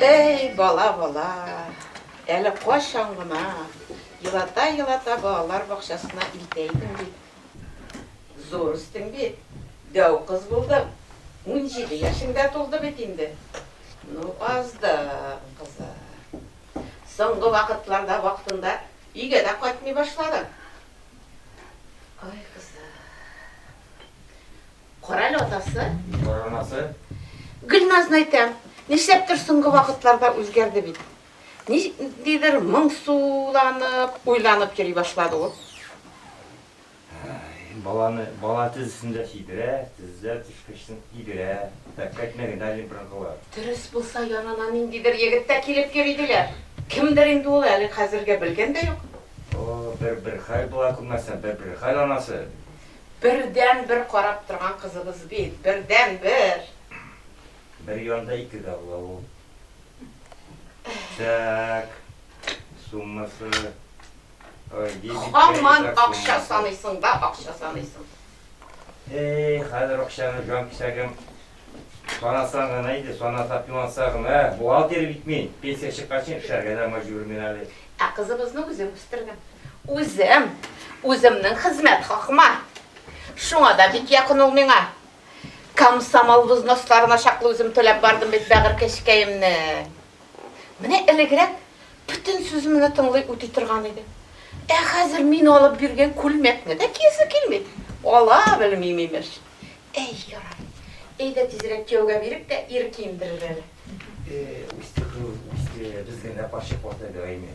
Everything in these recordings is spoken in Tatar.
Эй, бала, бала, әле кайчан гына елата-елата балалар бакчасына илтә идең бит. Зур үстең бит, дәү кыз булдың. Унҗиде яшеңдә тулды бит инде. Ну, аздың, кызы. Соңгы вакытларда вакытында Өйгә дә кайтмый башладым. Ай, кызым. Кара әле атасы. Кара анасы. Гөлназны әйтәм, нишләптер соңгы вакытларда үзгәрде бит. Ниндидер моңсуланып, уйланып йөри башлады ул. Баланы бала тезесендә сидерә, тезедә төшкәчтен игерә, пәккәтенә генә лимп рыгылыр. Дөрес булса, янына ниндидер егет тә килеп йөри диләр. Кемдер инде ул, әле хәзергә белгән дә юк. О, бер бер хәл була күрмәсен, бер бер хәл анасы. Бердән бер карап торган кызыбыз бит, бердән бер. Бер янда ике дә була ул. Тәк, суммасы. Хаман акча саныйсың да акча саныйсың. Эй, хәзер акчаны җан кисәгем санасаң гына иде, санасак юанса гына. Ә, бухгалтер бит мин, пенсия чыкканчы эшләргә дә мәҗбүр мин әле. Ә кызыбызны үзем үстердем. Үзем, үземнең хезмәт хакыма. Шуңа да бик якын ул миңа. Комсомол взносларына чаклы үзем түләп бардым бит бәгырькәчкәемне. Менә элегрәк бөтен сүземне тыңлый үти торган иде. Ә хәзер мин алып биргән күлмәкне дә киясе килми. Ала белмим имеш. Әй, ярар. Әйдә тизрәк кияүгә бирик тә ир киендерер әле. Үсте кыз, үсте. Безгә дә карчык вата бирәме?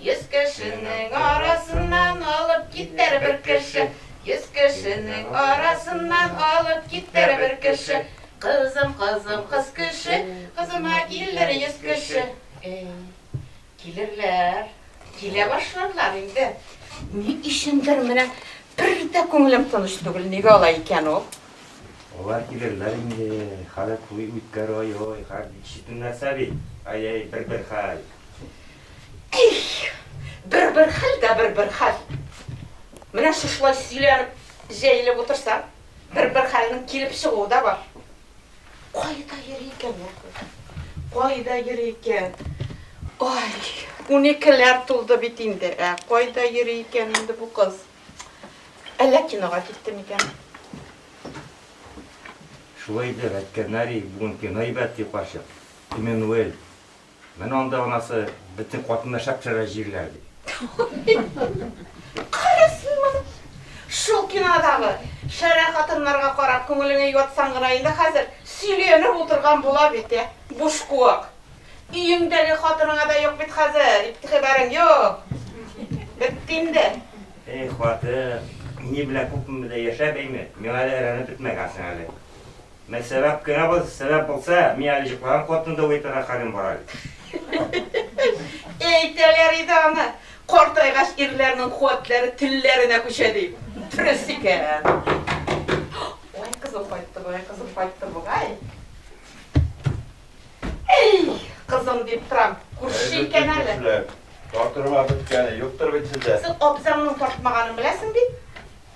Йөз кешенең арасыннан алып китәр бер кеше, Йөз кешенең арасыннан алып китәр бер кеше. Кызым, кызым, кыз кеше, кызыма килер йөз кеше. Әй, килерләр, килә башларлар инде. Ни өчендер менә бер дә күңелем тыныч түгел, нигә алай икән ул? Алар килерләр инде, хәле туй үткәр, ай-ой, хәл ишетелмәсә бит, ай-ай, бер-бер хәл. Их! Бер-бер хәл дә бер-бер хәл. Менә шушылай сөйләнеп, җәелеп утырсаң, бер-бер хәлнең килеп чыгуы да бар. Кайда йөри икән ул кыз? Кайда йөри икән? Ай, уникеләр тулды бит инде, ә кайда йөри икән инде бу кыз? Әллә кинога китте микән? Шулай итеп, әйткәннәр, бүген кино әйбәт, ди карчык. Эммануэль Менә анда анасы бөтен хатыннар шәпшәрә җирләр ди. Кара син моны! Шул кинодагы шәрә хатыннарга карап күңелеңә юатсаң гына инде хәзер сөйләнеп утырган була бит, ә? Бушкуак! Өеңдәге хатыныңа да юк бит хәзер игътибарың, юк! Бетте инде! Эх, хатын, ни белән күпме дә яшәп әйме, миңа әле әрәнеп бетмәгәнсең әле. Мә сәбәп кенә бу, сәбәп булса, мин әле җоклаган кортны да уятырга хәлем бар әле. Әйтәләр иде аны, картайгач ирләрнең куәтләре телләренә күчә дип. Дөрес икән. Ай, кызым кайтты, бай кызым кайтты бугай. Әй, кызым дип торам, күрше икән әле. Тартырга беткәне юктыр бит сездә. Син абзаңның тартмаганын беләсең бит.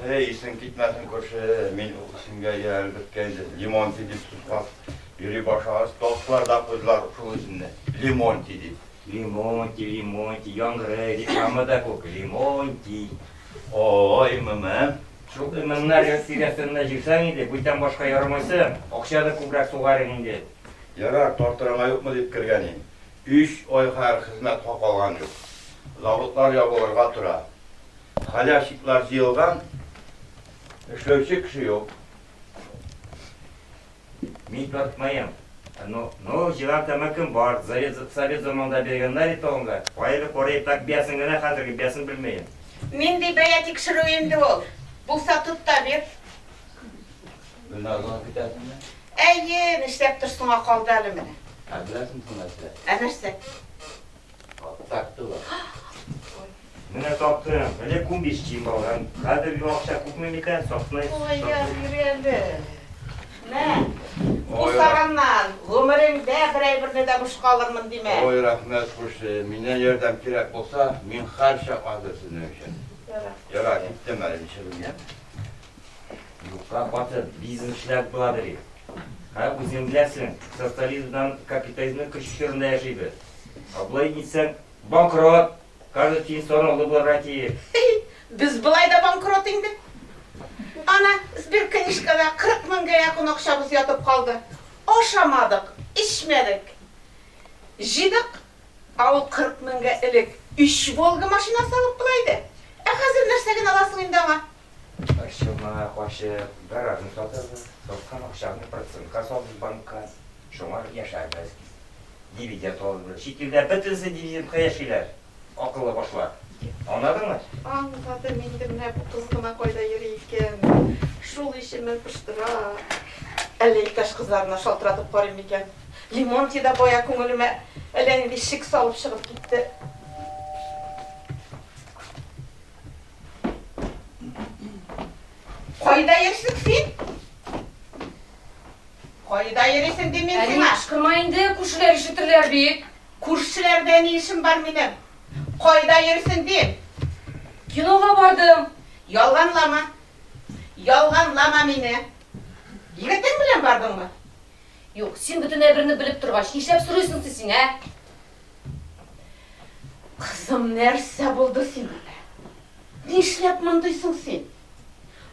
Әй, исең китмәсен, күрше, мин ул исемгә иялеп беткәйнем. Лимонтий дип сукмак йөри башлагач, таптылар да куйдылар шул исемне, Лимонтий дип. Лимонтий, Лимонтий, яңгырый, дип яңа да күк, Лимонтий. Ой, мымым. Шул имәннәр йорт тирәсендә җыйсаң иде, бүтән башка ярамыйсы, акча да күбрәк сугар идең инде. Ярар, тартырыңа юкмы дип кергән идем. Өч ай хәер хезмәт хакы алган юк. Заводлар ябылырга тора. Халявщиклар җыелган, эшләүче кеше юк. Мин тартмаем. Ну, ну, җыйган тәмәкем бар, завет, совет заманында биргәннәр ит алынга. Каяле карый, так биясен генә, хәзерге биясен белмәем. Нинди бәя тикшерү инде ул? Булса тот та бир. Гөлназның көтәсеңме? Әйе, нишләптер соңа калды әле менә. Ә беләсең соң нәрсә? Ә нәрсә? Таптылар. Менә таптым. Менә күмбич чим алган. Хәзер бу акча күпме микән? Сакны. Ой, я бирәле. Мә. Усаганнан, гомереңдә берәй берне дә буш калырмын димә. Ой, рәхмәт күрше. Миннән ярдәм кирәк булса, мин хәрчә хәзер сезнең өчен. Ярар. Ярар, киттем әле ничегемгә. Юкка хатын бизнесләр була бери. Һәм үзең беләсең, социализмдан капитализмның көч чорында яшибез. Ә болай итсәң, банкрот! Каждый тиен сораулы булырга тиеш. Без болай да банкрот инде. Ана, сберкнижкада 40 меңгә якын акчабыз ятып калды. Ашамадык, эчмәдек. Җыйдык, ә ул 40 меңгә элек өч Волга машинасы алып була иде. Ә хәзер нәрсә генә аласың инде аңа? Чалма ачып, гаражны сатабыз. Саткан акчабызны процентка салабыз банкка. Шуңа яшәбез. Дивиденд алабыз. Чит илдә бөтенесе дивидендка яшиләр, акыллы башлар. Аңладыңмы? Аңладым инде, менә бу кыз гына кайда йөри икән? Шул ишеме пыштыра. Әллә иптәш кызларына шалтыратып карыйм микән? Лемонтий да бая күңелемә әллә нинди шик салып чыгып китте. Кайда йөрсең син? Кайда йөрисең дим мин сиңа? Кышкырма инде, күршеләр ишетерләр бит. Күршеләрдә ни эшем бар минем? Кайда йөрсең дим? Кинога бардым. Ялганлама. Ялганлама мине. Егетең белән бардыңмы? Юк, син бөтен әйберне белеп торгач, нишләп сорыйсың син, ә? Кызым, нәрсә булды сиңа? Нишләп мондый соң син?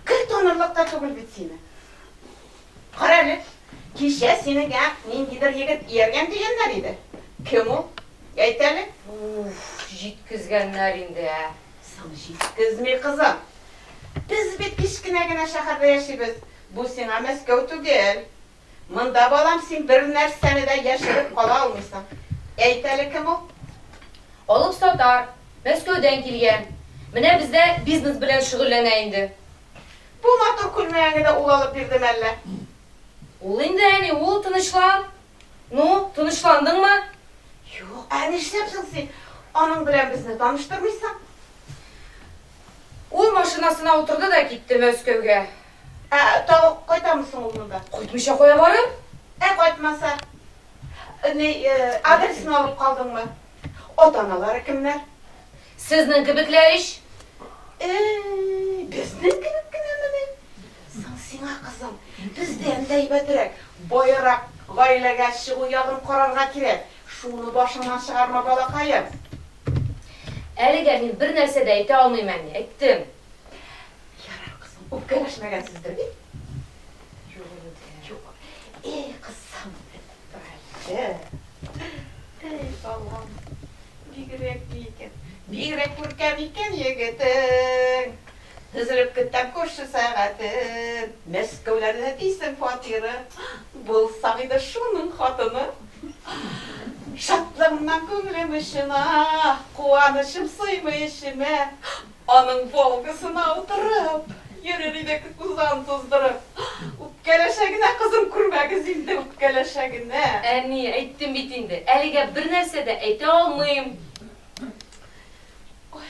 Гел танырлык та түгел бит сине. Кара әле, кичә синең ниндидер егет ияргән дигәннәр иде. Кем ул? Әйт әле. Уф, җиткезгәннәр инде. Соң җиткезми, кызым. Без бит кечкенә генә шәһәрдә яшибез. Бу сиңа Мәскәү түгел. Монда, балам, син бернәрсәне дә яшереп кала алмыйсың. Әйт әле, кем ул? Алып сатар, Мәскәүдән килгән. Менә бездә бизнес белән шөгыльләнә инде. Бу матур күлмәгеңне дә ул алып бирдеме әллә? Ул инде, әни, ул, тынычлан. Ну, тынычландыңмы? Юк, ә нишләп соң син аның белән безне таныштырмыйсың? Ул машинасына утырды да китте Мәскәүгә. Ә тагы кайтамы соң ул монда? Кайтмыйча кая барыр? Ә кайтмаса? Ни, адресын алып калдыңмы? Ата-аналары кемнәр? Сезнең кебекләр ич. Э-э-э, безнең кебек кенәмени? Соң сиңа, кызым, бездән дә әйбәтрәк, баерак гаиләгә чыгу ягын карарга кирәк. Шуны башыңнан чыгарма, балакаем. Әлегә мин бернәрсә дә әйтә алмыйм, әни. Әйттем. Ярар, кызым, үпкәләшмәгәнсездер бит? Юк, әнидә. Юк. Эй, кызым, Райчә. Эй, балам. Бигрәк ни икән? Бигрәк күркәм икән егетең. Тезелеп көтәм күрше сәгатен. Мәскәүләрдә дисең фатиры. Булсаң иде шуның хатыны. Шатлыгымнан күңелем очына. Куанычым сыймый эчемә. Аның Волгасына утырып. Йөрер идек тузан туздырып. Үпкәләшә генә кызым, күрмәгез инде, үпкәләшә генә. Әни, әйттем бит инде, әлегә бер нәрсә дә әйтә алмыйм. Ой.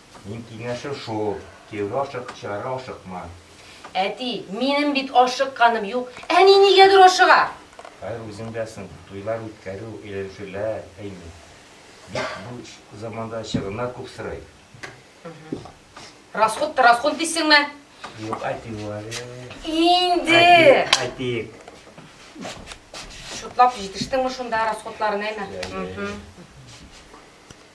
Минем киңәшем шул, кияүгә ашык, чыгарга ашыкма. Әти, минем бит ашыкканым юк. Әни нигәдер ашыга. Хәер, үзең беләсең, туйлар үткәрү, әйләнешүләр, әйе. Бит бу заманда чыгымнар күп сорый. Расход та расход дисеңме? Юк, әти бу әле. Инде! Әйтик. Шутлап җитештеңме шунда расходларын әйме?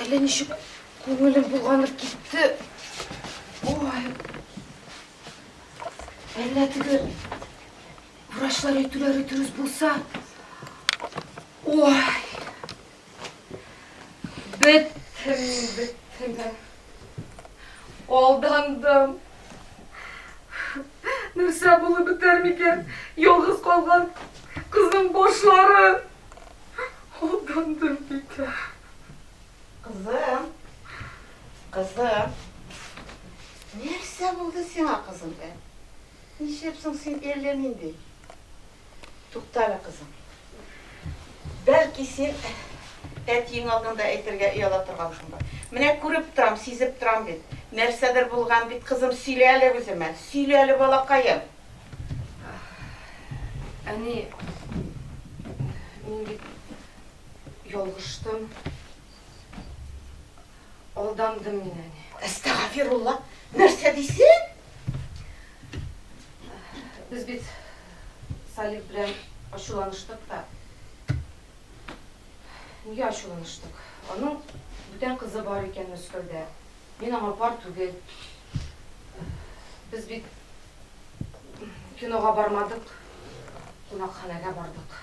Әллә ничек күңелем булганып китте. Ой. Әллә теге врачлар әйтүләре дөрес булса. Ой. Беттем, беттем. Алдандым. Нәрсә булып бетәр микән? Ялгыз калган кызның башлары. Хурландым бик. Кызым, кызым, нәрсә булды сиңа, кызым, ә? Ничек соң син әллә нинди? Туктале, кызым. Бәлки син әтиең алдында әйтергә ояла торгансыңдыр. Менә күреп торам, сизеп торам бит. Нәрсәдер булган бит, кызым, сөйлә әле үземә. Сөйлә әле, балакаем. Әни, мин бит ялгыштым. Алдандым мин, әни. Әстәгафирулла, нәрсә дисең? Без бит Салих белән ачуланыштык та. Нигә ачуланыштык? Аның бүтән кызы бар икән Мәскәүдә. Мин аңа пар түгел. Без бит кинога бармадык, кунакханәгә бардык.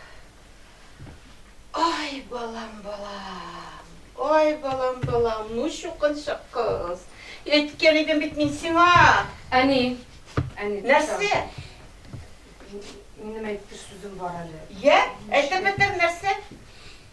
Ай, балам, балам. Ай, балам, балам, ну чукынчык кыз. Әйткән идем бит мин сиңа. Әни, әни. Нәрсә? Минем әйтер сүзем бар әле. Йә, әйтеп бетер нәрсә?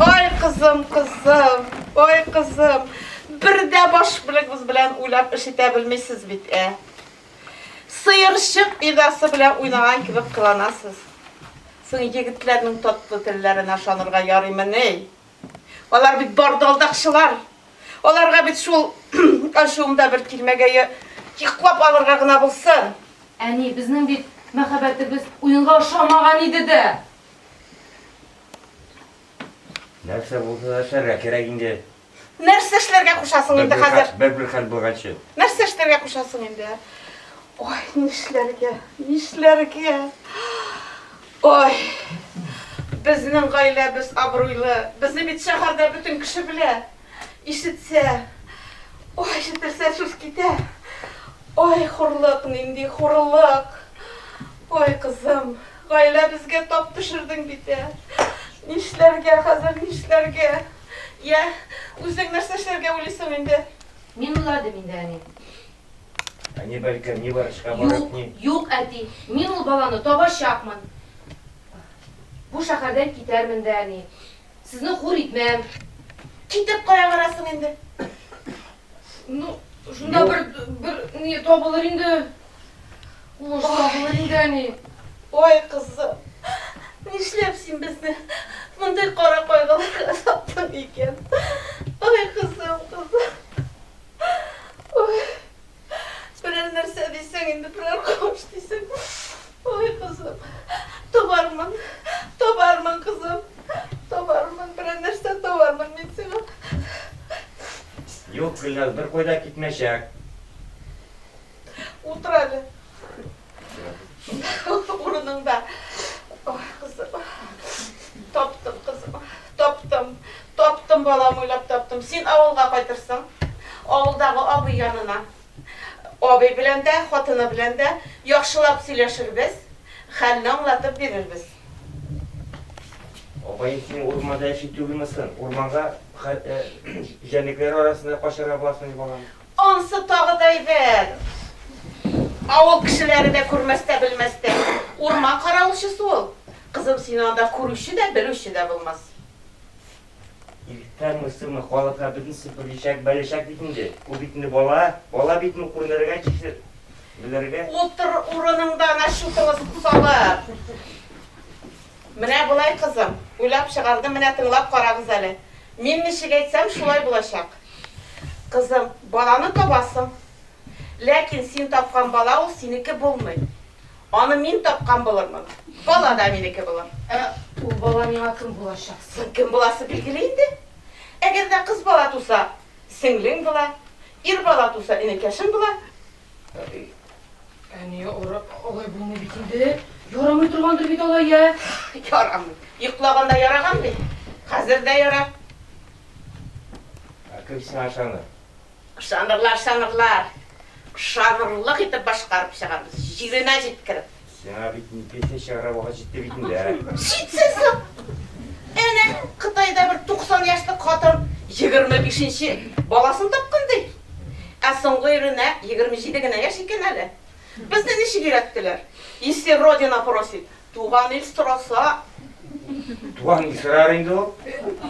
Ай кызым, кызым, ай кызым, бер дә баш белегебез белән уйлап эш итә белмисез бит, ә? Сыерчык идасы белән уйнаган кебек кыланасыз. Соң егетләрнең татлы телләренә ышанырга ярыймы ни? Алар бит бардалдакчылар. Аларга бит шул ачуымда бер тирмәгә йоклап алырга гына булсын. Әни, безнең бит мәхәббәтебез уенга ошамаган иде дә. Нәрсә булса да эшләргә кирәк инде. Нәрсә эшләргә кушасың инде хәзер? Бер-бер хәл булганчы. Нәрсә эшләргә кушасың инде? Ой, нишләргә? Нишләргә? Ой. Безнең гаиләбез абруйлы. Безне бит шәһәрдә бөтен кеше белә. Ишетсә, ой, ишетелсә сүз китә. Ой, хурлык, нинди хурлык. Ой, кызым, гаиләбезгә тап төшердең бит, ә. Нишләргә хәзер, нишләргә? Йә, үзең нәрсә эшләргә уйлыйсың инде? Мин уйладым инде, әни. Әни бәлкем ни врачка барып, ни. Юк, юк, әти, мин ул баланы табачакмын. Бу шәһәрдән китәрмен дә, әни. Сезне хур итмәм. Китеп кая барасың инде? Ну, шунда бер, бер ни табылыр инде. Уңыш табылыр инде, әни. Ой, кызым, нишләп син безне мондый кара кайгыларга саттың икән? Ой, кызым, кызым. Ой. Берәр нәрсә дисең инде, берәр кавыш дисең. Ой, кызым, табармын, табармын, кызым, табармын, берәр нәрсә табармын мин сиңа. Юк, Гөлназ, бер кайда китмәчәк. Утыр әле. Урыныңда. Ой, кызым. Таптым, кызым. Таптым. Таптым, балам, уйлап таптым. Син авылга кайтырсың. Авылдагы абый янына. Абый белән дә, хатыны белән дә яхшылап сөйләшербез, хәлне аңлатып бирербез. Апай, син урманда яши түгелме соң? Урманга җәнлекләр арасында качарга буласыңмы, балам? Ансы тагы да әйбәт. Авыл кешеләре дә күрмәстә-белмәстә. Урман каравылчысы ул. Кызым, сине анда күрүче дә, белүче дә булмас. Иртәме-соңмы халыкка бөтенесе белешәк, белешәк бит инде. Ул бит инде бала. Бала бит ул, күренергә тиеш, белергә. Утыр урыныңда ана чутылы салып. Менә болай, кызым. Уйлап чыгардым, менә тыңлап карагыз әле. Мин ничек әйтсәм, шулай булачак. Кызым, баланы табасың. Ләкин син тапкан бала ул синеке булмый. Аны мин тапкан булырмын. Бала да минеке булыр. Ә ул бала миңа кем булачак? Соң кем буласы билгеле инде. Әгәр дә кыз бала туса, сеңлең була, ир бала туса, энекәшең була. Әни, алай булмый бит инде. Ярамый торгандыр бит алай, я? Ярамый. Йоклаганда яраган бит. Хәзер дә яра. Ә кем сиңа ышаныр? Ышанырлар, ышанырлар. Ышанырлык итеп башкарып чыгарбыз, җиренә җиткереп. Сиңа бит песня чыгарга вакыт җитте бит инде. Җитсен соң. Әнә Кытайда бер 90 яшьлек хатын 25-нче баласын тапкан ди. Ә соңгы иренә 27 генә яшь икән әле. Безне ничек өйрәттеләр? Если родина просит, Туган ил сораса. Туган ил сорар инде ул.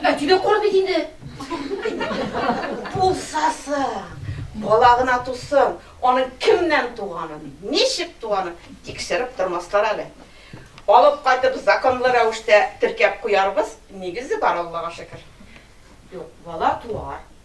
Әти дә кор бит инде. Булса соң, бала гына тусын, аның кемнән туганын, ничек туганын тикшереп тормаслар әле. Алып кайтып законлы рәвештә теркәп куярбыз, нигезе бар, Аллага шөкер. Юк, бала туар.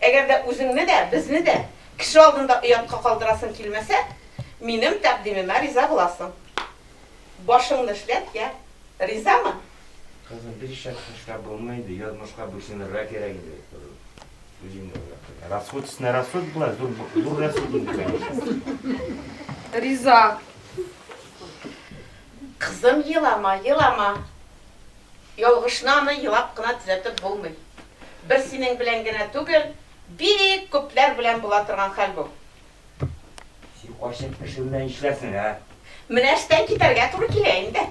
Әгәр дә үзеңне дә, безне дә кеше алдында оятка калдырасың килмәсә, минем тәкъдимемә риза буласың. Башыңны эшләт, йә. Ризамы? Кызым, бик шәп төшкә булмый инде, язмышка буйсынырга кирәк инде. Үзең дә уйлап куй. Расход өстенә расход була, зур зур расход инде, конечно. Риза. Кызым, елама, елама. Ялгышны аны елап кына төзәтеп булмый. Бер синең белән генә түгел, бик күпләр белән була торган хәл бу. Син кайчак кеше белән эшләсең, ә? Менә эштән китәргә туры килә инде.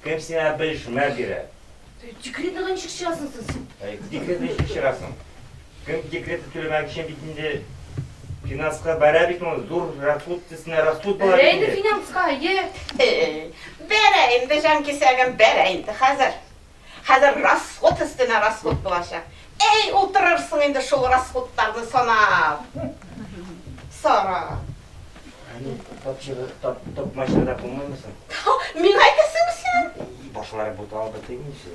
Кем сиңа белешмә бирә? Декретныгы ничек чыгасың соң син? Декретны ничек чыгасың? Кем декрет түләмәк өчен бит инде финанска бәрә бит ул зур расход тесенә расход була бит инде. Бәрә финанска, е. Бәрә инде җан кисәгем, бәрә инде хәзер. Хәзер расход өстенә расход булачак. Әй, утырырсың инде шул расходларны санап. Сара. Әни, тапчыры, тап, тапмача да булмаймы соң? Мин әйтәсеңме син? Башлары буталып бетеймичә.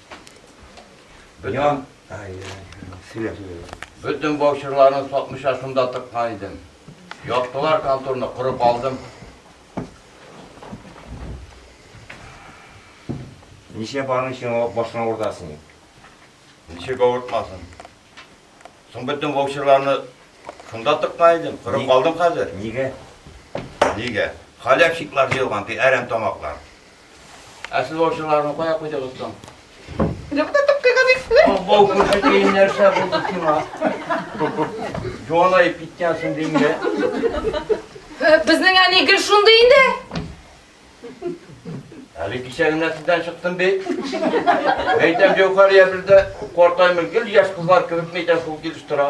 Бөтен... Бөтен баучырларны сатмыша шунда тыккан идем. Яптылар конторны, корып алдым. Ничә барның өчен башына уртасын? Ничек авыртмасын? Соң бөтен баучырларны шунда тыккан идем, корып алдым хәзер. Нигә? Нигә? Халякчиклар җыелган, әрәм тамаклар. Ә сез ул җырларны кая куйдыгыз соң? Юкта тып кыйган иксне. Абау күрше тиен нәрсә булды сиңа? Җуанаеп киткәнсең димгә. Безнең әни гел шундый инде. Әле кисәгенә сездән чыктым бит. Әйтәм, Җәүхәрия бездә картаймый, гел яшь кызлар кебек мәйтәм шул килеш тора.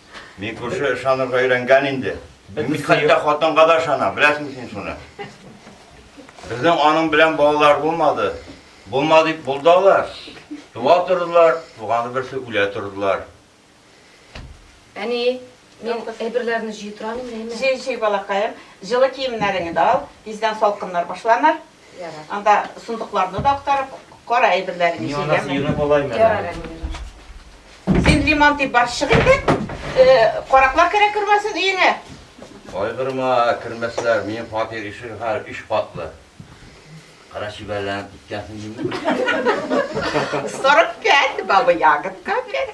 Мин күрше ышанырга өйрәнгән инде. Мин хәтта хатынга да ышанам, беләсең син шуны. Безнең аның белән балалар булмады. Булма дип булды алар. Туа тордылар, туганы берсе үлә тордылар. Әни, мин әйберләрне җыйдырам инде, әйме? Җый, җый, балакаем. Җылы киемнәреңне дә ал, тиздән салкыннар башланыр. Анда сундукларны да актарып кара әйберләрен Мин анда сыйны болаймын. Ярар, әни. Син лимон дип бар чык инде. Караклар керә кермәсен өеңә. Кайгырма, кермәсләр. Минем фатир ишеге хәл өч катлы. Кара чибәрләнеп киткәнсең димме? Сорып кәт, бабы ягытка бер.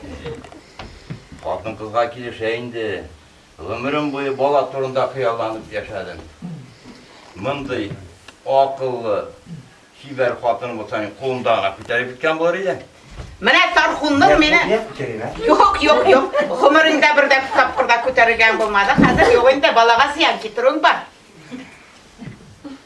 Хатын кызга килешә инде. Гомерем буе бала турында хыялланып яшәдем. Мондый акыллы, чибәр хатын булса, мин кулымда гына күтәреп киткән булыр идем. Менә Тархунның мине Юк, юк, юк. Гомерендә бер дә тапкырда күтәрелгән булмады. Хәзер юк инде, балага зыян китерүең бар.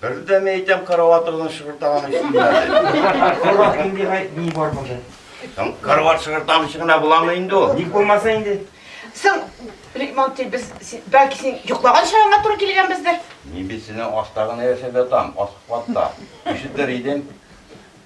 Бер дә мин әйтәм, караватыгызны шыгыртаган өчен генә дип. Корах нинди гай- ни бар монда? Һәм Карават шыгыртам өчен генә буламы инде ул? Ник булмаса инде? Соң, Ремонтый, без, син- бәлки син йоклаган чагыңа туры килгәнбездер? Мин бит синең аста гына яшәп ятам, аскы катта. Ишетер идең.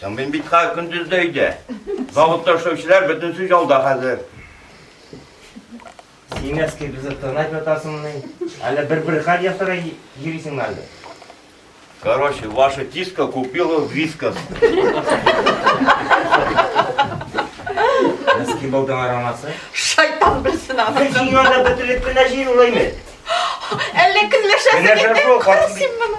Соң мин бит хәзер көндез дә өйдә. Заводта эшләүчеләр бөтенесе ялда хәзер. Син әскер безне тырнап ятасыңмыни? Әллә бер-бер хәл ясарга йөрисеңме әллә? Короче, ваша тиска купила вискас. Носки болдың арамасы. Шайтан белсен аны. Бер җиңгән дә бөтереп кенә җир улаймы? Әллә көнләшәсең Көнләшәсең, инде? картым Кара бит. син моны.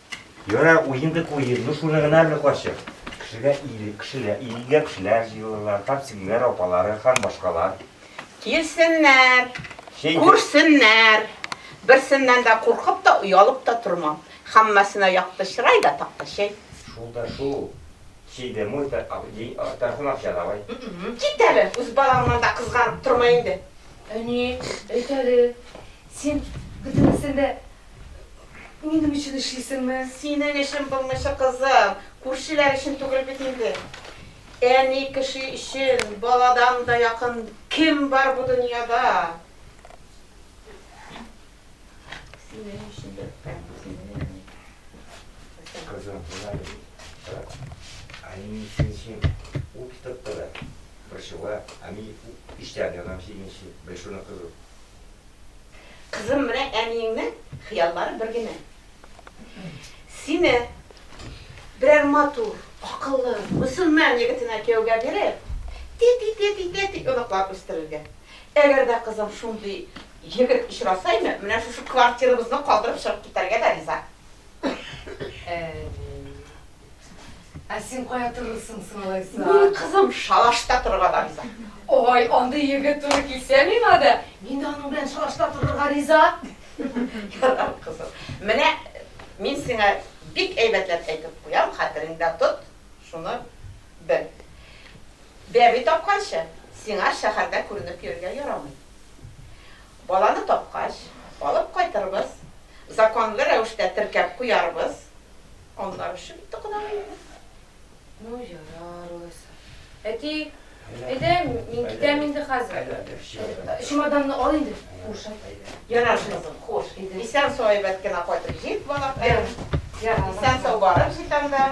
Йора, уен дип уен. Ну шуны гына әле карчык. Кешегә ил, кешеләр, илгә кешеләр җыелырлар, карт сеңлеләр апалары һәм башкалар. Килсеннәр, Чәй дә- күрсеннәр. Берсеннән дә куркып та, оялып та тормам. Һәммәсенә якты чырай да, такта чәй. Шул да шул. Чәй дә мой та, а, дин, а, тартын акча давай. М-м-м, кит әле, үз балаңнан да кызганып торма инде. Әни, әйт әле, син бөтенесен дә Минем өчен эшлисеңме? Синең өчен булмыйча, кызым. Күршеләр өчен түгел бит инде. Әни кеше өчен баладан да якын кем бар бу дөньяда? Синең өчен дә үпкәм, синең өчен. Кызым, менә бит. Әни синең өчен ут тотты да, борчыла. Әни эчтән яна синең өчен. Бел шуны, кызым. Кызым, менә әниеңнең хыяллары бер генә. Сине берәр матур, акыллы, мөселман егетенә кияүгә биреп, тәти-тәти-тәти оныклар үстерергә. Әгәр дә кызым шундый егет очраса иде, менә шушы квартирабызны калдырып чыгып китәргә дә риза. Ә син кая торырсың соң алайса? Мин, кызым, шалашта торырга да риза. Ой, андый егет туры килсә миңа да, мин дә аның белән шалашта торырга риза. Ярар, кызым. Менә мин сиңа бик әйбәтләп әйтеп куям, хәтереңдә тот, шуны бел. Бәби тапканчы, сиңа шәһәрдә күренеп йөрергә ярамый. Баланы тапкач, алып кайтырбыз, законлы рәвештә теркәп куярбыз, аннары шып итте кодагый инде. Ну, ярар алайса. Әти, әйдә, мин китәм инде хәзер. Чемоданны ал инде, хуш. Ярар, кызым, хуш. Исән-сау әйбәт кенә кайтып җит, балакаем. Исән-сау барып җит анда.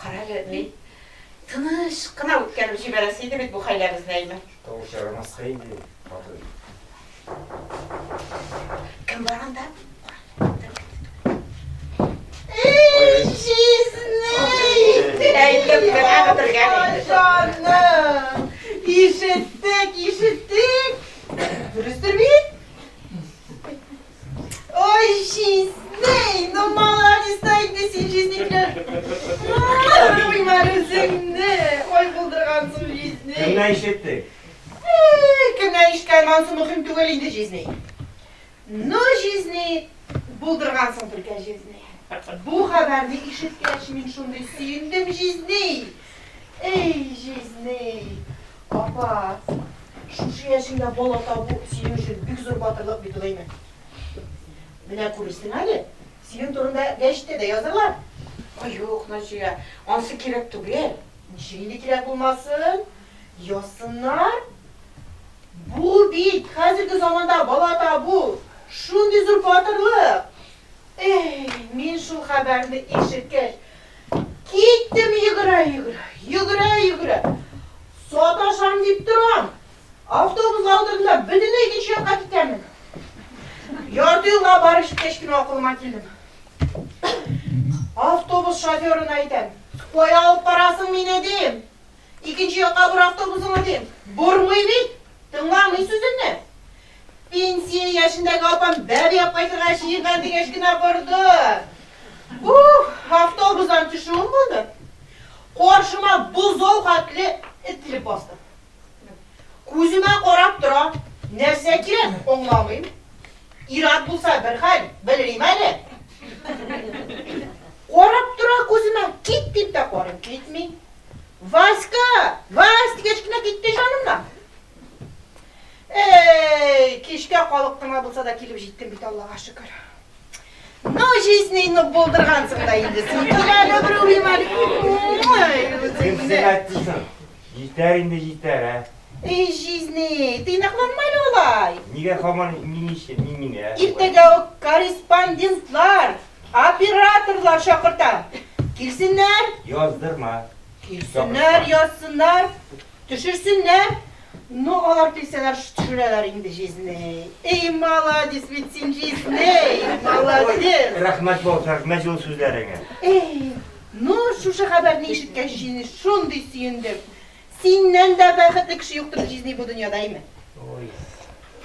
Карале, ни тыныч кына үткәреп җибәрәсе иде бит бу хәйләбезне, әйме? Тавыш ярамаска инде, хатын. Кем бар анда? Ишеттек, ишеттек. Дөрестер бит? Ой, җизнәй, ну молодец та инде син җизнеккә. Куймар үзеңне, ой булдыргансың җизнәй. Кемнән ишеттең? Кемнән ишеткән ансы мөһим түгел инде җизнәй. Ну җизнәй, булдыргансың түркә җизнәй. Бу хәбәрне ишеткәч, мин шундый сөендем җизнәй. Эй, җизней! Апа, шушы яшеңдә бала табу синең өчен бик зур батырлык бит ул, әйме? Менә күрерсең әле, синең турында гәҗиттә дә язырлар. Ай, юк, Наҗия, ансы кирәк түгел. Ничек инде кирәк булмасын? Язсыннар. Бу бит хәзерге заманда бала табу, шундый зур батырлык! Эй, мин шул хәбәрне ишеткәч, Киттем йөгерә-йөгерә, йөгерә-йөгерә. Саташам дип торам. Автобус алдында бөтенләй икенче якка китәмен. Ярты юлга барып җиткәч кенә акылыма килдем. Автобус шоферына әйтәм, Кая алып барасың мине, дим. Икенче якка бор автобусыңны, дим. Бормый бит! Тыңламый сүземне. Пенсия яшендәге апам бәби алып кайтырга җыенган дигәч кенә борды. Ух, автобустан төшүем булды. Каршыма бозау хәтле эт килеп басты. Күземә карап тора, нәрсә кирәк, аңламыйм. Ир-ат булса бер хәл, белмим әле. Карап тора күземә, кит дип тә карыйм, китми. Васька! Вась! дигәч кенә китте җанымнан. Эй, кичкә калып кына булса да килеп җиттем бит, Аллага шөкер. Ну, жизненны булдыргансың да инде. Син кил әле бер уйым әле. Кем сиңа әйтте соң? Җитәр инде җитәр, ә? Эй, жизни, тыйнакланма әле алай. Нигә хаман мин иши, мин мин, ә? Иртәгә үк корреспондентлар Операторлар чакырта. Килсеннәр. Яздырма. Килсеннәр, язсыннар, төшерсеннәр. Ну, алар килсәләр, төшерәләр инде җизней. Эй, маладис бит син, җизней, маладис. Рәхмәт булсын, рәхмәт җылы сүзләреңә. Эй, ну, шушы хәбәрне ишеткәч, җизней шундый сөендем. Синнән дә бәхетле кеше юктыр җизни бу дөньяда, име? Ой,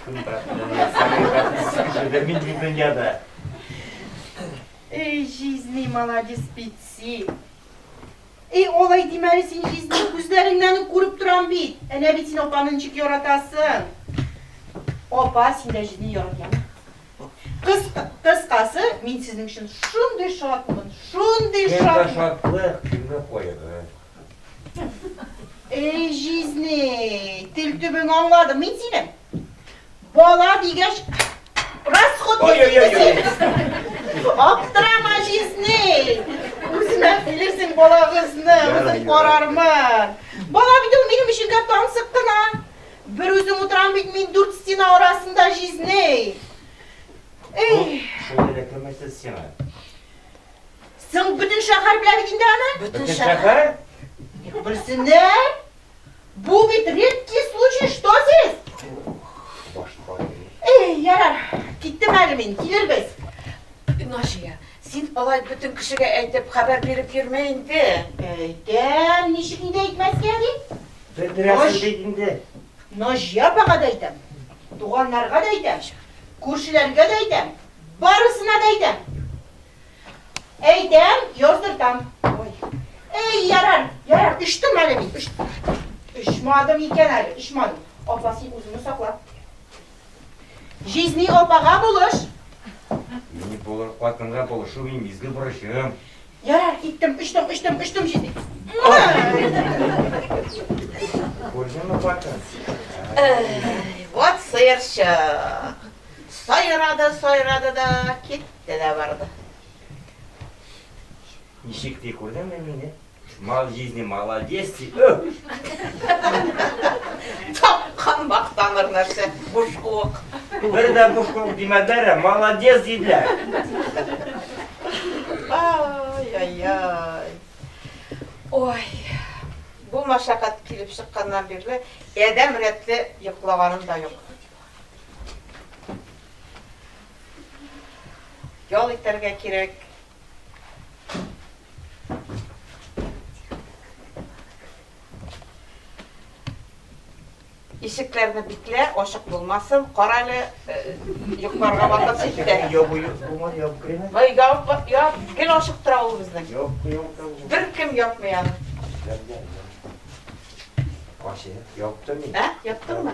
кем бәхетле, ни самый бәхетсез кешедер мин бу дөньяда. Эй, җизни, маладис бит син. Эй, алай димә әле син, җизни, күзләреңнән үк күреп торам бит. Әнә бит син апаны ничек яратасың. Апа, син дә җизни яратмамы? Кыс, кыскасы, мин сезнең өчен шундый шатмын, шундый Кемгә шатмын. шатлык, кемгә кайгы. Эй, җизней, тел төбең аңладым мин синең. Бала дигәч, расход Аптырама, җизней. Үземә килерсең балагызны, үзем карармын. Бала бит ул минем өчен гә тансык кына. Бер үзем утырам бит мин дүрт стена арасында җизней. Эй! Шулай да кемесез сиңа? Соң бөтен шәһәр белә бит инде аны. Бөтен шәһәр? Ник белсеннәр? Бу бит редкий случай, что здесь? Башка. Эй, ярар, киттем әле мин, килербез. Наҗия, син алай бөтен кешегә әйтеп хәбәр биреп йөрмә инде. Әйтәм, ничек инде әйтмәскә ди? Белдерәсең бит инде. Наҗия апага да әйтәм, туганнарга да әйтәм, күршеләргә дә әйтәм, барысына да әйтәм. Әйтәм, яздыртам. Ой. Эй, ярар, ярар, өчтем әле мин, өчтем. Очмадым икән әле, очмадым. Апа, син үзеңне сакла. Җизни апага булыш. Мин булыр, хатынга булышу мин изге бурычым. Ярар, киттем, очтым, очтым, очтым җизни. Күрдеңме, хатын? Вот сыерчык. Сайрады, сайрады да китте. Тенә барды. Ничек ди, күрдеңме мине? Мал җизни, маладес ди. Тапкан мактаныр нәрсә, буш куык. Бер дә буш куык димәделәр, ә маладес диделәр. Ай-яй-яй. Ой, бу машакат килеп чыкканнан бирле адәм рәтле йоклаганым да юк. ял итәргә кирәк. Ишекләрне биклә, ашык булмасын. Кара әле э, йокларга вакыт җитте. Ябу булмады, ябу креме? Ой, яб, яб, гел ашык тора ул безнең. Яб, яб, яб. Бер кем япмый аны. Ашы, яптым мин. Ә, яптыңмы?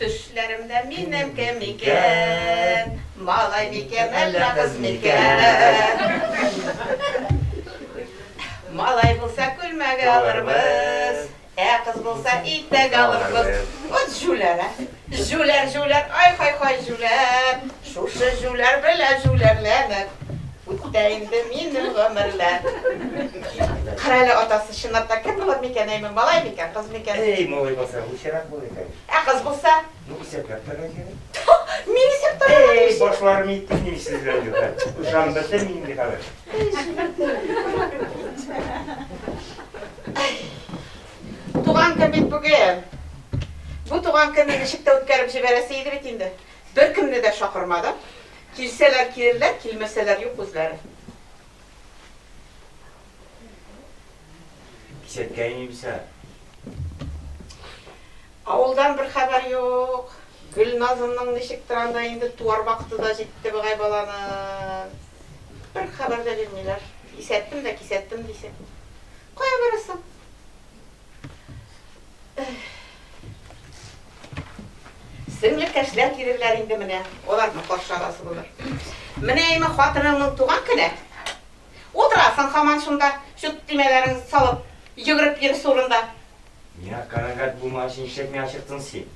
Төшләремдә минем кем икән? Малай микән, әллә кыз микән? Малай булса, күлмәге алырбыз. Ә кыз булса, итәк алырбыз. Вот җүләр, ә! Җүләр, җүләр, ай-хай-хай, җүләр! Шушы җүләр белән җүләрләнеп үтә инде минем гомерләр. Кара әле, атасы, чынлап та кем булыр микән, әй, малай микән, кыз микән? Әй, малай булса, лучырак булыр иде. Ә кыз булса? Ну, исәпләп торырга кирәк. Мин исәп торырга тиеш. Әй, башларым итте мин сез белән юлда. Ышан бетте мин инде хәзер. Туган көн бит бүген. Бу туган көнне ничек тә үткәреп җибәрәсе иде бит инде. Беркемне дә чакырмадым. Килсәләр килерләр, килмәсәләр юк үзләре. Кисәткә иңимсә. Авылдан бер хәбәр юк. Гөлназымның ничектер анда инде туар вакыты да җитте быгай баланың. Бер хәбәр дә бирмиләр. Кисәттем дә кисәттем дисең. Кая барасың? Сеңлекәшләр килерләр инде менә. Аларны каршы аласы булыр. Менә име хатыныңның туган көне. Утырасың хаман шунда, чут тимәләрен салып, йөгереп йөрис урында. Миңа канәгать булмагач, нишләп миңа чыктың син?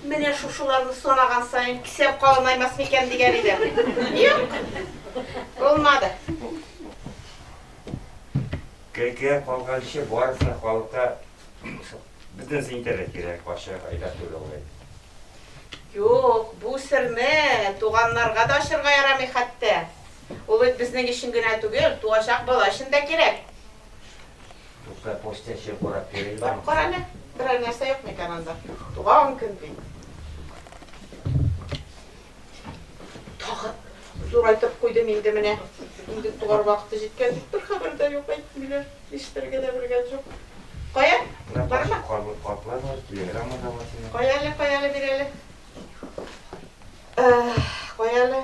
Менә шушыларны санаган саен кисәп калынаймас микән дигән идем. Юк. Булмады. Кәкә калганчы барысына халыкка бөтен интернет кирәк, ачык айда түгел ул. Юк, бу серне туганнарга да ачырга ярамый хәтта. Ул бит безнең өчен генә түгел, туачак бала өчен дә кирәк. Дуслар, почта чек урап йөрим. Барып кара әле, берәр нәрсә юк микән анда? Туган көн бит. Тагы зурайтып куйдым инде менә. Инде тугар вакыты җиткән дип бер хәбәр дә юк әйтмиләр. Нишләргә дә белгән җук. Кая? Барма. Карлы катлар бар, телеграмма да бар. Кая әле, кая әле бирәле? Э, кая әле?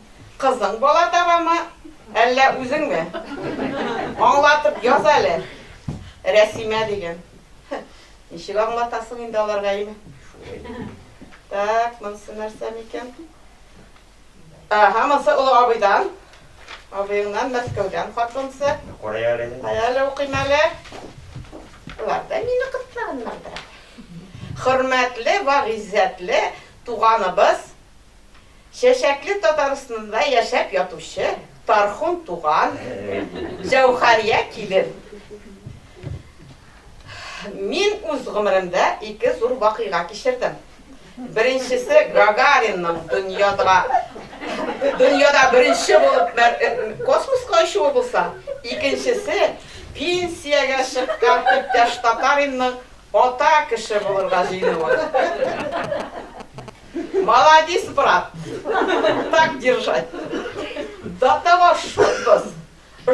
Кызың бала табамы, әллә үзеңме? Аңлатып яз әле. Рәсимә диген. Ничек аңлатасың инде аларга ими. Так, монсы нәрсә микән? Ага, монсы олы абыйдан. Абыеңнан Мәскәүдән хат монсы. Кая әле? Кая әле укыйм әле? Болар да мине кыстлаганнардыр. Хөрмәтле ва гыйззәтле туганыбыз Чәчәкле Татарстннда яшәп ятучы Тархун туган, Җәүхәрия килен. Мин үз гомеремдә ике зур вакыйга кичердем. Беренчесе Гагаринның дөньяда дөньяда беренче булып космоска очуы булса, икенчесе пенсиягә чыккан иптәш Татаринның Ата кеше булырга җыенуың. Маладис брат! Так держать! До того шутбыз,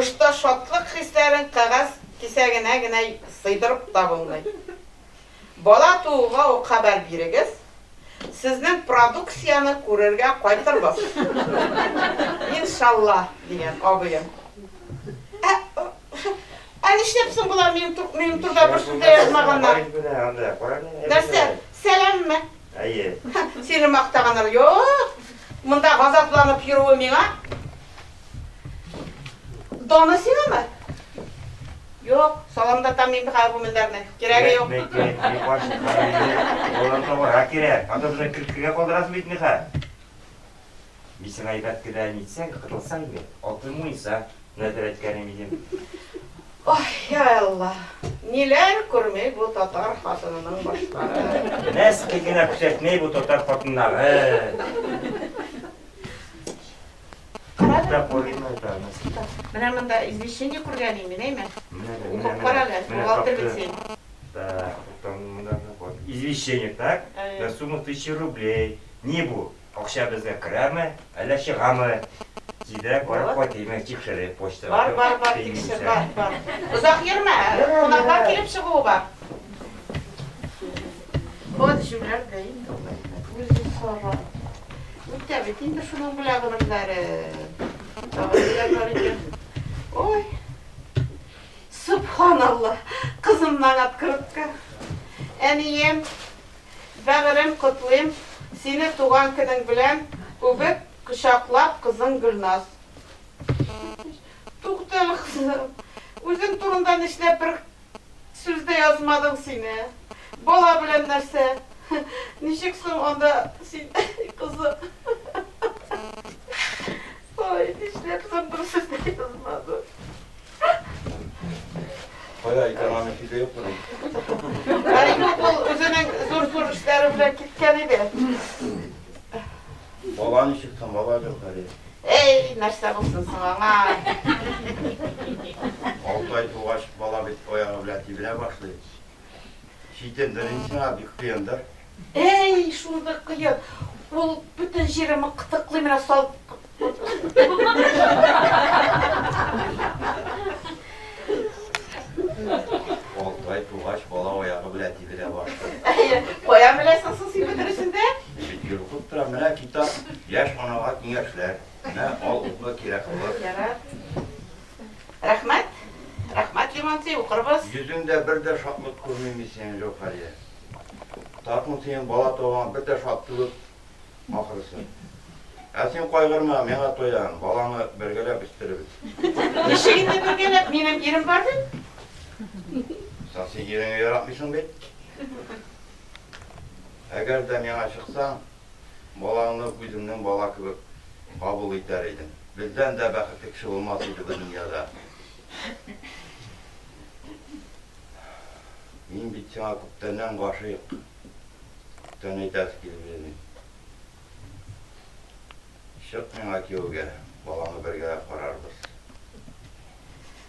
что шатлык хисләрен кәгазь кисәгенә генә сыйдырып та булмый. Бала тууга ук хәбәр бирегез, сезнең продукцияне күрергә кайтырбыз. Иншалла! дигән абыем. Ә Ә нишләп соң болар минем тур, минем турда бер сүз дә язмаганнар? Нишләп булмасын, бар анда, караң нинди Нәрсә, сәламме? Әйе. Сине мактаганнар, юк! Монда газапланып йөрүе миңа. Даны сиңамы? Юк, саламда там мин бихар гүмелләрне. Кирәге юк. Мек, мек, мек, баш, олар табар, а кирәк. Анда безне киркегә калдырасыз бит, Миха. Без гайбәт кенә нитсәң, кытылсаң инде, алтын муенса нәдер әйткәнем идем. Ой, я Алла, ниләр күрми бу татар хатынының башлары. Нәрсә генә күрсәтмәй бу татар хатыннары. Менә монда извещение күргән инде, әйме? Укып кара әле, бухгалтер бит син. Так, там монда извещение, так? На сумму тысяча рублей. Ни бу? Акча безгә керәме, әллә чыгамы? Тизрәк барып кайтыймы, тикшереп, почта. Бар, бар, бар, тикшер, бар, бар. Озак йөрмә, кунаклар килеп чыгуы бар. Ат җүләр дә инде алай. Үзе сара. Үтә бит инде шуның белән гомерләре. Ой. Субханалла. Кызымнан открытка. Әнием, Бәгырем, котлыйм сине туган көнең белән, үбеп, кочаклап, кызың Гөлназ. Тукта әле кызым, үзең турында нишләп бер сүз дә язмадың сине? Бала белән нәрсә? Ничек соң анда син кызым? Ой, нишләп соң бер сүз дә язмадың? Кая икән аны киде юк мени? Әле юк ул үзенең зур-зур эшләре белән киткән иде. Бала ничек там, бала юк әле. Эй, нәрсә булсын соң аңа? Алты ай тугач бала бит аягы белән тибенә башлый. Читендер инде сиңа бик кыендыр. Әй, шул бер кыен. Ул бөтен җиреме кытыклый менә сал. Алтай тугач бала аягы белән тибенә башлый. Әйе, кая беләсең соң син бөтенесен дә? Чөнки укып тора, менә китап, яшь анага киңәшләр. Менә ал укы кирәк булыр. Ярар. Рәхмәт. Рәхмәт, Лимонци, укырбыз. Йөзеңдә бер дә шатлык күрмим мин синең, Җәүһәрия. Тартмын синең бала туганга бер дә шат түгел, ахрысы. Ә син кайгырма, мин аңа тоям, баланы бергәләп үстерербез. Ничек инде бергәләп, минем ирем бар бит. Соң син иреңне яратмыйсың бит. Әгәр дә миңа чыксаң, Балаңны үзеңнең бала кебек кабул итәр идең. Бездән дә бәхетле кеше булмас иде бу дөньяда. Мин бит сиңа күптәннән гашыйк. Күптән әйтәсе килеп йөрим. Чык миңа кияүгә, балаңны бергә карарбыз.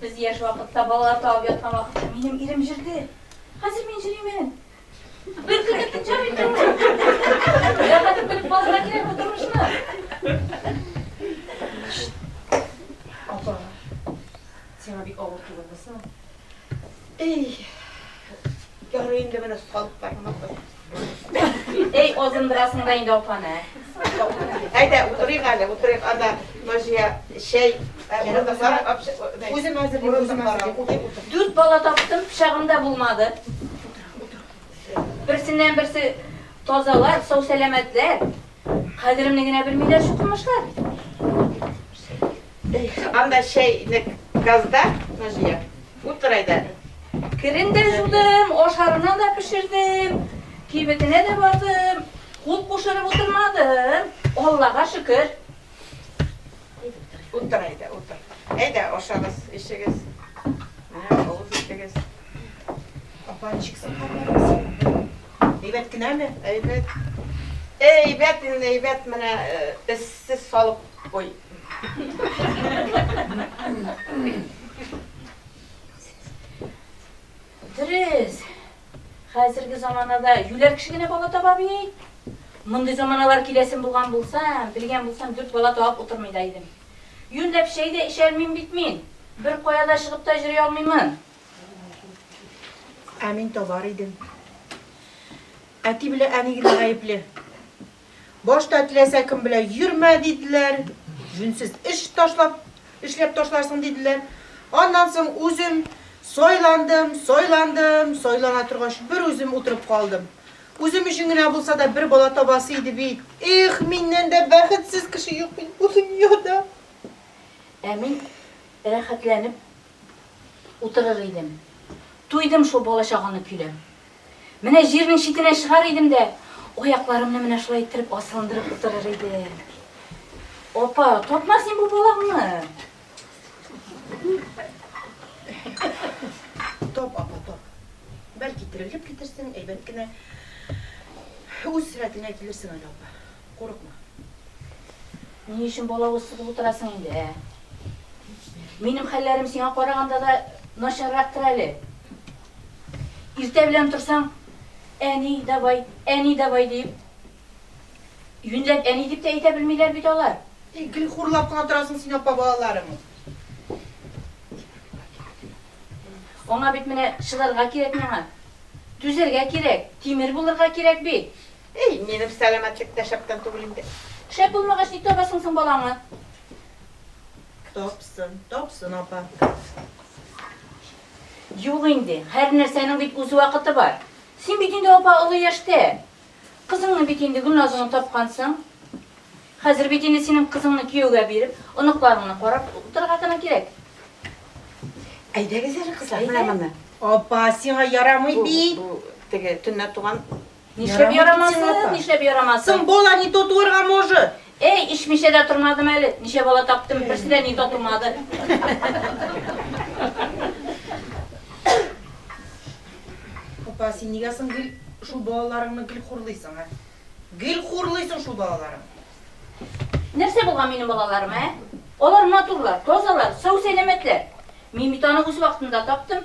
Без яшь вакытта балалар табып яткан вакытта минем ирем җырды. Хәзер мин җыримын. Бер кыз итеп җыр итте ул. Яратып белеп балалар кирәк бу тормышны. Апа, сиңа бик авыр түгелме соң? Эй, ярый инде менә салыпларыңны куй. Эй, озындырасың да инде апаны. Әйдә, утырыйк әле, утырыйк. Анда Наҗия чәй Үзем әзерлим, үзем әзерлим. Дүрт бала таптым, пычагым да булмады. Берсеннән берсе тазалар, сау сәламәтләр. Кадеремне генә белмиләр шул тормышлар. Эх, анда чәйнек газда, Наҗия, утыр әйдә. Керен дә жудым, ашарына да пешердем, кибетенә дә бардым. Кул кушырып утырмадым. Аллага шөкер. Утыр әйдә, утыр. Әйдә, ашагыз, эчегез. Менә авыз итегез. Апанчик сакалларыгыз. Әйбәт кенәме? Әйбәт. Әйбәт инде, әйбәт менә эссез салып куй. Дөрес. Хәзерге заманада юләр кеше генә бала таба бит. Мондый заманалар киләсем булган булса, белгән булсам, дүрт бала табып утырмый да идем. Юнләп чәй дә эчәрмен бит мин. Бер кая да чыгып та йөри алмыймын. Ә мин табар идем. Әти белән әни генә гаепле. Башта теләсә кем белән йөрмә диделәр, җүнсез эш ташлап, эшләп ташларсың диделәр. Аннан соң үзем сайландым, сайландым, сайлана торгач бер үзем утырып калдым. Үзем өчен генә булса да бер бала табасы иде бит. Их, миннән дә бәхетсез кеше юк бит бу дөньяда. Ә мин рәхәтләнеп утырыр идем. Туйдым шул бала-чаганы көйләп. Менә җирнең читенә чыгар идем дә, аякларымны менә шулай иттереп асылындырып утырыр идем. Апа, тапма син бу балаңны. Тап, апа, тап. Бәлки терелеп китерсең, әйбәт кенә үз сәләтеңә килерсең әле, апа. Курыкма. Ни өчен бала усып утырасың инде, ә? Минем хәлләрем сиңа караганда да начаррактыр әле. Иртә белән торсаң, әни, давай, әни, давай дип. Юньләп әни дип тә әйтә белмиләр бит алар. И, гел хурлап кына торасың син апа балаларың. Аңа бит менә шыларга кирәк миңа. Түзәргә кирәк, тимер булырга кирәк бит. И, минем сәламәтлек тә шәптән түгел инде. Шәп булмагач, ник табасың соң балаңны? Тапсын, тапсын апа. Юк инде, һәрнәрсәнең бит үз вакыты бар. Син бит инде апа олы яшьтә. Кызыңны бит инде Гөлназыңны тапкансың. Хәзер бит инде синең кызыңны кияүгә биреп, оныкларыңны карап утырырга гына кирәк. Әйдәгез әле, кызлар, менә монда. Апа, сиңа ярамый бит. Бу, бу теге төнлә туган Нишләп ярамасын, нишләп ярамасын? Сын бола не то туырга может. Эй, ишмичә дә тормадым әле. Ничә бала таптым, берсе дә не то тумады. Апа, син нигә соң гел шул балаларыңны гел хурлыйсың, ә? Гел хурлыйсың шул балаларың. Нәрсә булган минем балаларым, ә? Алар матурлар, тазалар, сау-сәламәтләр. Мин бит аны үз вакытында таптым.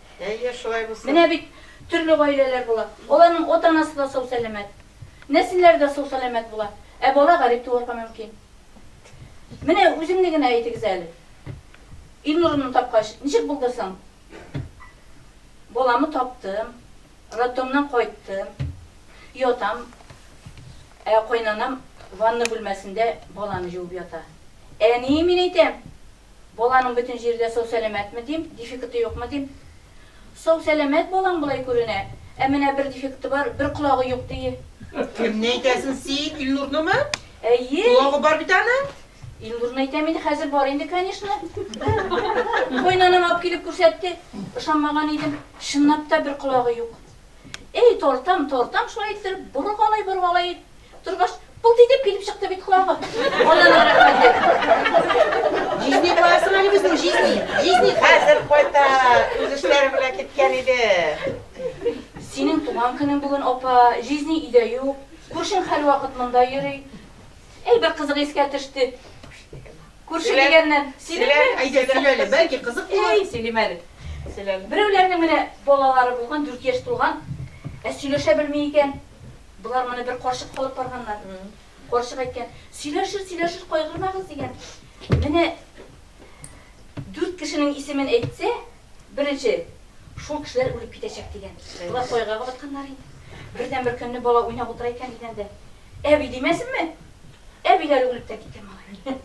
Әйе, шулай булсын. Менә бит төрле гаиләләр була. Аларның ата-анасы да сау-сәламәт. Нәселләре дә сау-сәламәт була. Ә бала гарип туарга мөмкин. Менә үзеңне генә әйтегез әле. Илнурымны тапкач, ничек булды соң? Баламы таптым, роддомнан кайттым, ятам, ә кайнанам ванна бүлмәсендә баланы җуып ята. Әни, мин әйтәм! Баланың бөтен җире дә сау-сәламәтме, дим, дефекты юкмы, дим. Сау-сәламәт балаң болай күренә, ә менә бер дефекты бар, бер колагы юк, дие. Кемне әйтәсең син, Илнурнымы? Әйе. Колагы бар бит аның. Илнурны әйтәм инде, хәзер бар инде, конечно. Кайнанам алып килеп күрсәтте. Ышанмаган идем. Чынлап та бер колагы юк. Әй, тартам, тартам шулай иттереп, боргалый-боргалый, Торгач, пылт итеп килеп чыкты бит колагы. Аналар рәхмәт ди. Җизни куасың әле безнең җизни. Җизни хәзер кайта. Үз эшләре белән киткән иде. Синең туган көнең бүген, апа. Җизни өйдә юк. Күршең һәрвакыт монда йөри. Әй, бер кызык искә төште. Күрше дигәннән, синеке? Әйдә, сөйлә әле, бәлки кызык булыр. Әй, сөйлим әле. Сөйлә әле. Берәүләрнең менә балалары булган, дүрт яшь тулган. Ә сөйләшә белми икән. Болар моны бер карчык кылып барганнар. Карчык әйткән, сөйләшер, сөйләшер, кайгырмагыз, дигән. Менә дүрт кешенең исемен әйтсә, беренче, шул кешеләр үлеп китәчәк, дигән. Болар кайгыга батканнар инде. Бердән бер көнне бала уйнап утыра икән дигәндә, әби димәсенме? Әбиләре үлеп тә киткән малай.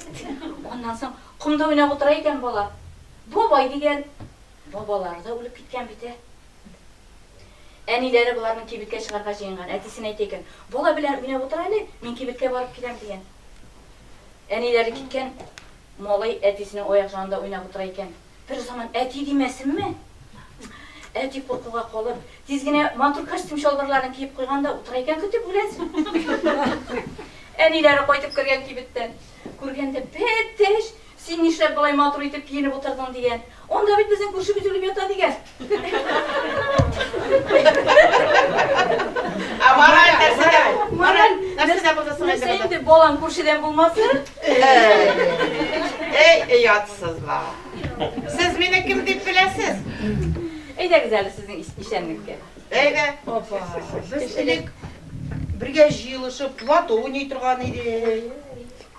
Аннан соң комда уйнап утыра икән бала. Бабай дигән. Бабалары да үлеп киткән бит, ә. Әниләре боларның кибеткә чыгарга җыенган. Әтисен әйтә икән, Бала белән уйнап утыр әле, мин кибеткә барып киләм, дигән. Әниләре киткән, малай әтисенең аяк җанында уйнап утыра икән. Берзаман әти димәсенме! Әти куркуга калып, тиз генә матур костюм-чалбарларын киеп куйган да утыра икән көтеп, үләс! Әниләре кайтып кергән кибеттән. Күргәндә, Бәтеш! Син нишләп болай матур итеп киенеп утырдың, дигән. Анда бит безнең күршебез үлеп ята, дигән. Ә мораль нәрсәдә бу? Мораль нәрсәдә булды соң инде? Нәрсә инде, балаң күршедән булмасы? Әй, оятсызлар. Сез мине кем дип беләсез? Әйдәгез әле сезнең исәнлеккә. Әйдә. Апа, без элек бергә җыелышып, лото уйный торган идек.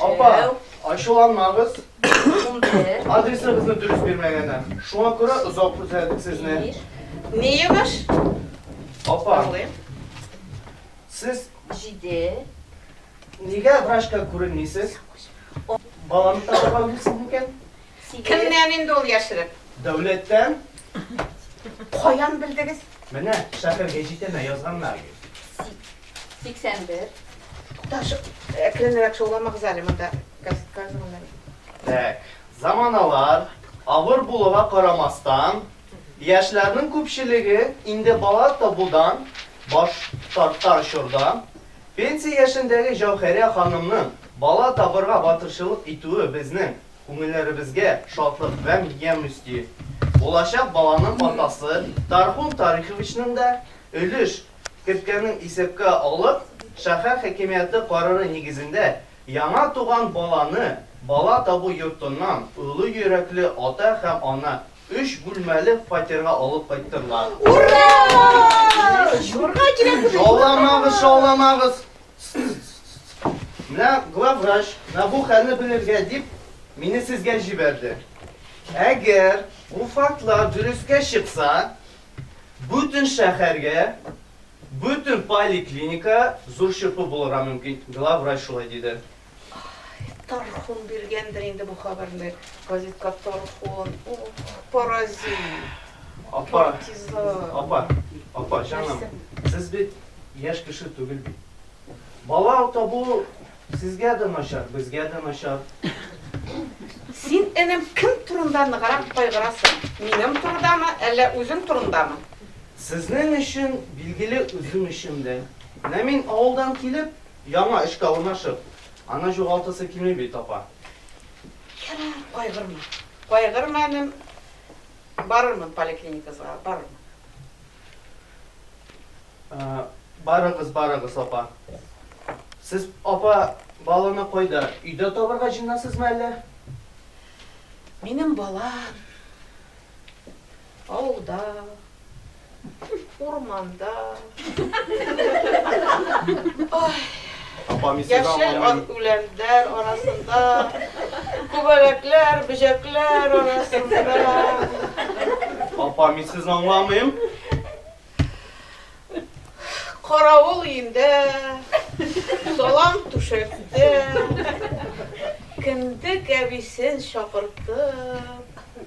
Апа, ачуланмагыз. Адресыгызны дөрес бирмәгәннәр. Шуңа күрә озак күзәтик сезне. Не ебаш? Апа. Сез җиде. Нигә врачка күренмисез? Баланы табарга белсез микән? Кемнән инде ул яшереп? Дәүләттән. Каян белдегез? Менә шәһәргә җитенә язганнар. 81. Туташ, әкренрәк шауламагыз әле, монда газ, газ гына бит. Тәк. Заманалар авыр булуга карамастан, яшьләрнең күпчелеге инде бала табудан баш тартар чорда, пенсия яшендәге Җәүһәрә ханымның бала табырга батырчылык итүе безнең күңелләребезгә шатлык гамь ямь өсти. Булачак баланың атасы Тархун Тариховичның да өлеш керткәнен исәпкә алып, шәһәр хакимияте карары нигезендә яңа туган баланы бала табу йортыннан олы йөрәкле ата һәм ана өч бүлмәле фатирга алып кайттырлар. Ура! Җырларга кирәк бит. Шауламагыз, шауламагыз. Менә главврач, менә бу хәлне белергә дип, мине сезгә җибәрде. Әгәр бу фактлар дөрескә чыкса, Бөтен шәһәргә, бөтен поликлиника зур чырпы булырга мөмкин, главврач шулай диде. Тархун биргәндер инде бу хәбәрне газетка Тархун, паразит. Апа, апа, апа, җаным, сез бит яшь кеше түгел бит. Бала табу Сезгә дә начар, безгә дә начар. Син, энем, кем турында ныграк кайгырасың, минем турыдамы, әллә үзең турындамы? Сезнең өчен, билгеле, үзем өчен дә. Менә мин авылдан килеп, яңа эшкә урнашып, аны җугалтасы килми бит, апа. Ярар, кайгырма. Кайгырма, энем, барырмын поликлиникага, барырмын. Барыгыз, барыгыз, апа. Сез, апа, баланы кайда? Өйдә табырга җыенасызмы әллә? Минем бала авылда, урманда. Ай! Яшел үләннәр арасында, күбәләкләр, бөҗәкләр арасында. Апа, мин сезне аңламыйм. Каравыл өендә, салам түшәктә, кендек әбисен чакыртып.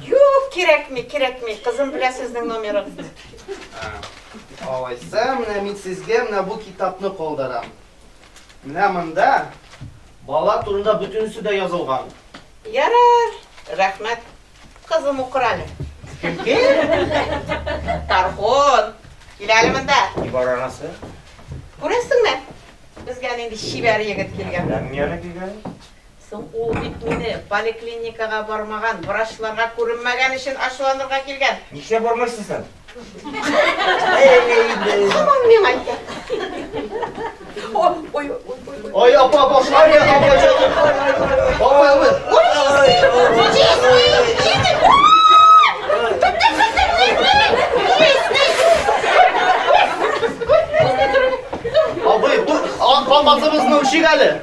Юк, кирәкми, кирәкми. Кызым белә сезнең номерын. Алайса, менә мин сезгә менә бу китапны калдырам. Менә монда бала турында бөтенесе дә язылган. Ярар, рәхмәт. Кызым укыр әле. Тархон, кил әле монда. Ни бар анасы? Күрәсеңме? Безгә нинди чибәр егет килгән. Ләм яны килгән. Соң ул бит мине поликлиникага бармаган, врачларга күренмәгән өчен ачуланырга килгән. Нишләп бармыйсыз соң? Һаман миңа әйтә. Ой, ой, апа, башла я, апа, апа, апа. Абый, ду, ан калмасыбыз мөкшик әле.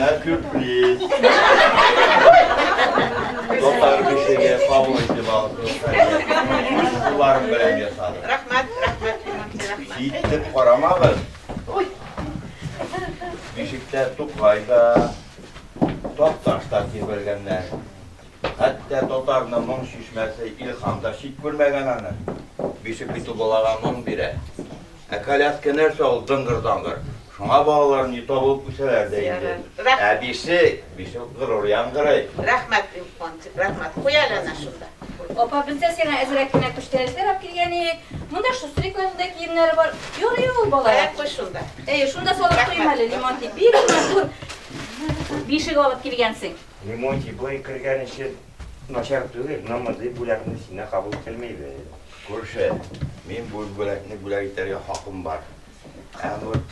Менә сюрприз. Татар бишеге кабул итеп алды. Үз кулларым белән ясадым. Рәхмәт, рәхмәт, рәхмәт. Җитеп карамагыз. Ой. Бишектә Тукай да, Такташ та тибелгәннәр. Хәтта татарны моң чишмәсе Илхам да чит күрмәгән аны. Бишек бит ул балага моң бирә. Ә коляска нәрсә ул дыңгыр-даңгыр? Шуңа балалар ни табылып үсәләр дә инде. Әбисе, бишек горур яңгырый. Рәхмәт, дим куанып. Рәхмәт. Куй әле әнә шунда. Апа, бездә сиңа әзрәк кенә күчтәнәч сайлап килгән идек. Монда Шустрикның да киемнәре бар. Ярый ул балалар. Әйе, куй шунда. Әйе, шунда салып куйыйм әле, Лимонтий. Бик матур бишек алып килгәнсең. Лимонтий, болай кергән өчен. Начар түгел, но мондый бүләкне сине кабул ителмибез. Күрше, мин бу бүләкне бүләк итәргә хакым бар. Ә вот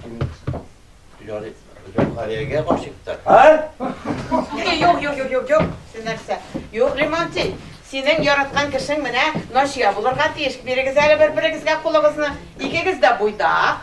мин Зөлхариягә гашыйктыр. Ха? Юк, юк, юк, юк, юк. Син нәрсә? Юк, Лимонтий. Синең яраткан кешең менә Насия булырга тиеш. Бирегез әле бер-берегезгә кулыгызны. Икегез дә буйдак.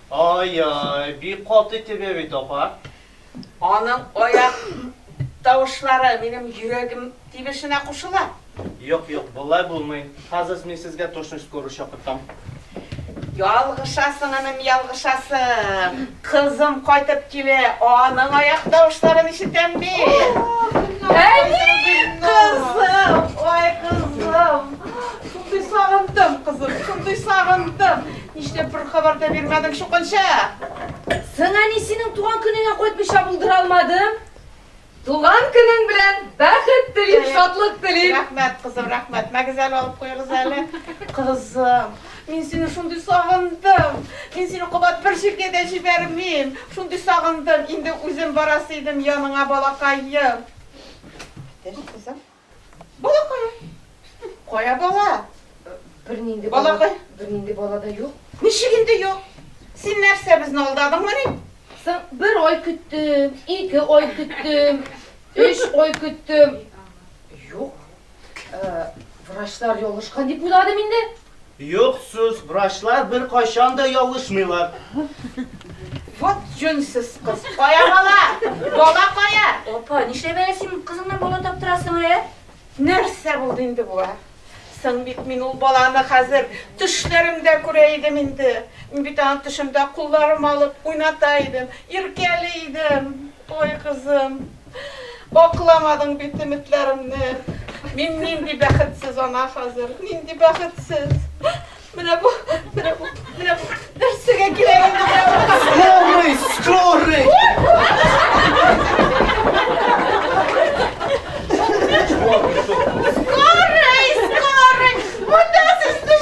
Ай-яй, бик каты төбә бит, апа. Аның аяк тавышлары минем йөрәгем тибешенә кушыла. Юк, юк, болай булмый. Хазыз, мин сезгә точность скорую чакыртам. Ялгышасың, энем, ялгышасың. Кызым кайтып килә, аның аяк тавышларын ишетәм бит. Әни, кызым, ай, кызым. Шундый сагындым, кызым, шундый сагындым. Нишләп бер хабар да бирмәдең, чукынча? Соң әни синең туган көнеңә кайтмыйча булдыра алмадым. Туган көнең белән бәхет телим, шатлык телим. Рәхмәт, кызым, рәхмәт. Мәгез әле алып куегыз әле. Кызым, мин сине шундый сагындым. Мин сине кабат бер җиргә дә җибәрмим. Шундый сагындым, инде үзем барасы идем яныңа, балакаем. Әйтәш, кызым. Балакай. Кая бала? Бернинди балакай. Бернинди бала да юк. Ничек инде юк? Син нәрсә безне алдадыңмы ни? Соң бер ой көттем, ике ой көттем, өч ой көттем. Юк. Э, врачлар ялгышкан дип уйладым инде. Юк сүз, врачлар беркайчан да ялгышмыйлар. Вот җүнсез кыз. Кая бала? Бала кая? Апа, нишләп әле син кызыңнан бала таптырасың, ә? Нәрсә булды инде бу, ә? Соң бит мин ул баланы хәзер төшләремдә күрә идем инде. Мин бит аны төшемдә кулларыма алып уйната идем, иркәли идем. Ой, кызым. Акламадың бит өметләремне. Мин нинди бәхетсез ана хәзер, нинди бәхетсез. Менә бу, менә бу, менә бу нәрсәгә кирәк Скорый, скорый! Скорый, скорый! Монда сезнең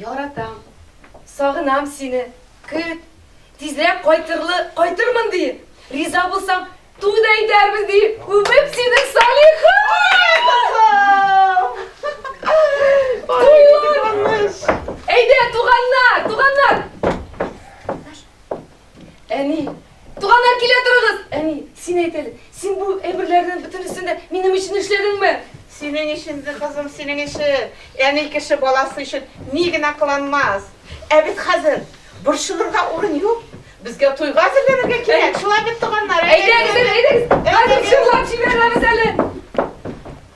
Яратам, сагынам сине, көт, тизрәк кайтырлы, кайтырмын ди, риза булсаң, туй да итәрбез ди, үбеп синең Салиха! Туйлар! Әйдә, туганнар, туганнар! Әни. Туганнар килә торыгыз! Әни. Син әйт әле, син бу әйберләрнең бөтенесен дә минем өчен эшләдеңме? Синең өчен, кызым, синең өчен. Әни кеше баласы өчен ни генә кыланмас. Ә бит хәзер борчылырга урын юк. Безгә туйга әзерләнергә кирәк. Шулай бит, туганнар? Әйдәгез, әйдәгез, хәзер җырлап җибәрәбез әле.